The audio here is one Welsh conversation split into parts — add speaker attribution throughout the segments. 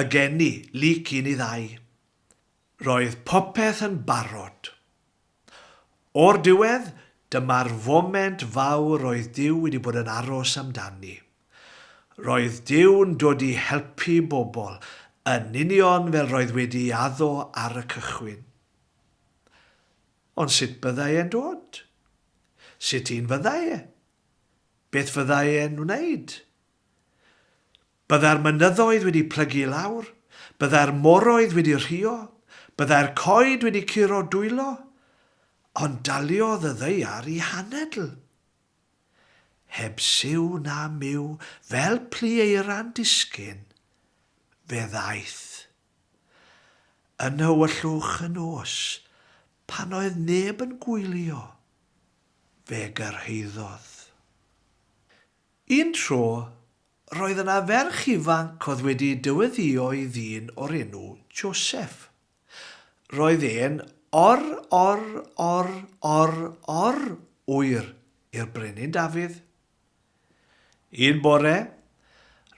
Speaker 1: Y geni, lyc un i ddau. Roedd popeth yn barod. O'r diwedd, dyma'r foment fawr oedd Duw wedi bod yn aros amdani. Roedd Duw'n dod i helpu bobl, yn union fel roedd wedi addo ar y cychwyn. Ond sut byddai e'n dod? Sut un fyddai e? Beth fyddai e'n wneud? Byddai'r mynyddoedd wedi plygu i lawr, byddai'r moroedd wedi rhuo, byddai'r coed wedi curo dwylo, ond daliodd y ddaear i hanedl. Heb siw na myw, fel plu eira'n disgyn, fe ddaeth. Yn nhywyllwch y nos, pan oedd neb yn gwylio, fe gyrhaeddodd. Un tro, roedd yna ferch ifanc oedd wedi dyweddïo'i ddyn o'r enw Joseph. Roedd e'n or, or, or, or, or, oer i'r Brenin Dafydd. Un bore,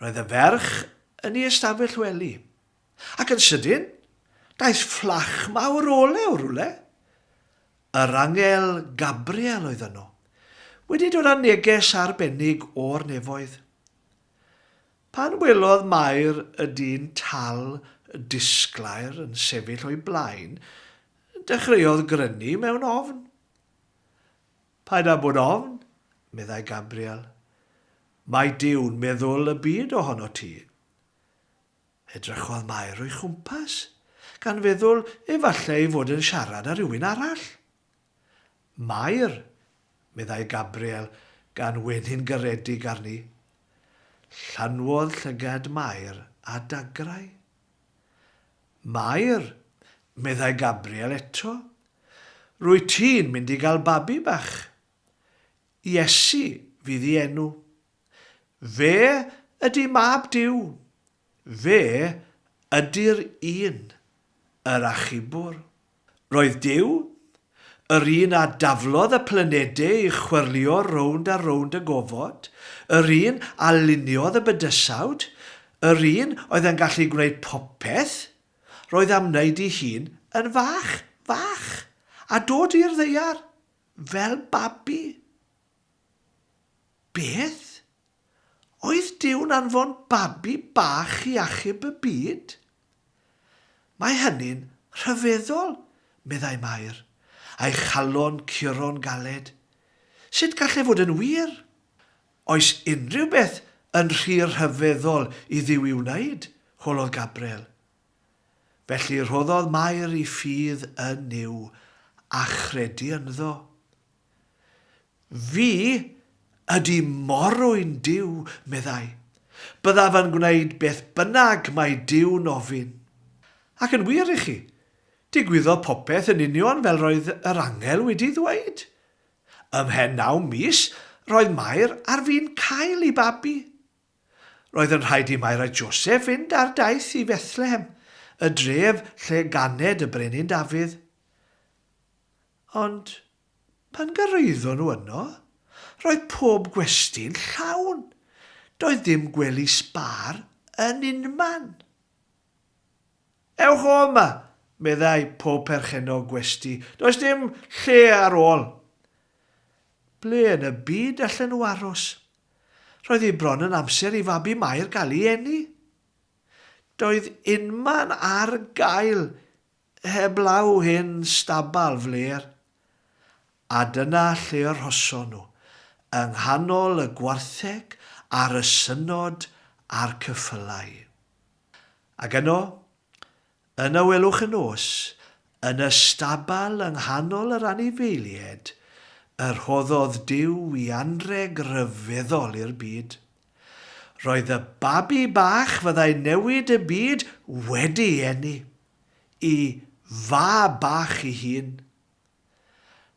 Speaker 1: roedd y ferch yn ei ystafell wely. Ac yn sydyn, daeth fflach mawr olew o rywle. Yr angel Gabriel oedd yno, wedi dod â neges arbennig o'r nefoedd. Pan welodd Mair y dyn tal disglair yn sefyll o'i blaen, dechreuodd grynu mewn ofn. Paid â bod ofn, meddai Gabriel. Mae Duw'n meddwl y byd ohono ti. Edrychodd Mair o'i chwmpas, gan feddwl efallai ei fod yn siarad â rhywun arall. Mair, meddai Gabriel, gan wenu'n garedig arni. Llanwodd llygad Mair â dagrau. Mair, meddai Gabriel eto, rwyt ti'n mynd i gael babi bach. Iesu fydd i enw. Fe ydy Mab Duw. Fe ydy'r un, yr Achubwr. Roedd Duw, yr un a daflodd y planedau i chwyrlio rownd a rownd y gofod, yr un a luniodd y bydysawd, yr un oedd yn gallu gwneud popeth, roedd am wneud i hun yn fach, fach, a dod i'r ddaear. Fel babi? Beth? Oedd Duw'n anfon babi bach i achub y byd? Mae hynny'n rhyfeddol, meddai Mair, a'i chalon curo'n galed. Sut gall e fod yn wir? Oes unrhyw beth yn rhy rhyfeddol i Dduw i'w wneud? holodd Gabriel. Felly rhoddodd Mair i ffydd yn Nuw, a chredu ynddo. Fi ydy morwyn Duw, meddai. Byddaf yn gwneud beth bynnag mae Duw'n ofyn. Ac yn wir i chi, digwyddodd popeth yn union fel roedd yr angel wedi ddweud. Ymhen naw mis, roedd Mair ar fin cael ei babi. Roedd yn rhaid i Mair a Joseff fynd ar daith i Fethlehem, y dref lle ganed y brenin Dafydd. Ond pan gyrraeddon nhw yno, roedd pob gwesty'n llawn. Doedd dim gwely sbâr yn unman. Ewch o yma, meddai pob perchennog gwesty. Does dim lle ar ôl. Ble yn y byd allen nhw aros? Roedd hi bron yn amser i fabi Mair gael ei eni. Doedd unman ar gael heblaw hen stabal flêr. A dyna lle y rhoson nhw, yng nghanol y gwartheg a'r ysynod a'r cyffylau. Ac yno, Yna welwch y nos, yn y stabal yng nghanol yr anifeilied, y rhoddodd Duw i anrheg ryfeddol i'r byd. Roedd y babi bach fyddai newid y byd wedi eni. I Fab bach i hun.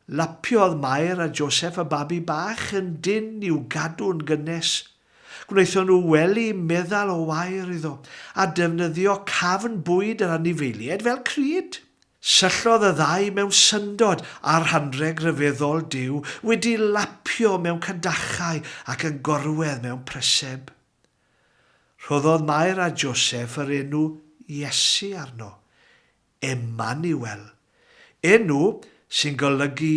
Speaker 1: Lapiodd Mair a Joseph y babi bach yn dynn i'w gadw'n gynnes. Gwnaethon nhw wely meddal o wair iddo, a defnyddio cafn bwyd yr anifeiliaid fel crud. Syllodd y ddau mewn syndod ar hanrheg ryfeddol Duw wedi lapio mewn cadachau ac yn gorwedd mewn preseb. Rhoddodd Mair a Joseph yr enw Iesu arno, Emmanuel, enw sy'n golygu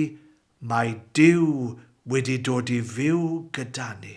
Speaker 1: Mae Duw wedi dod i fyw gyda ni.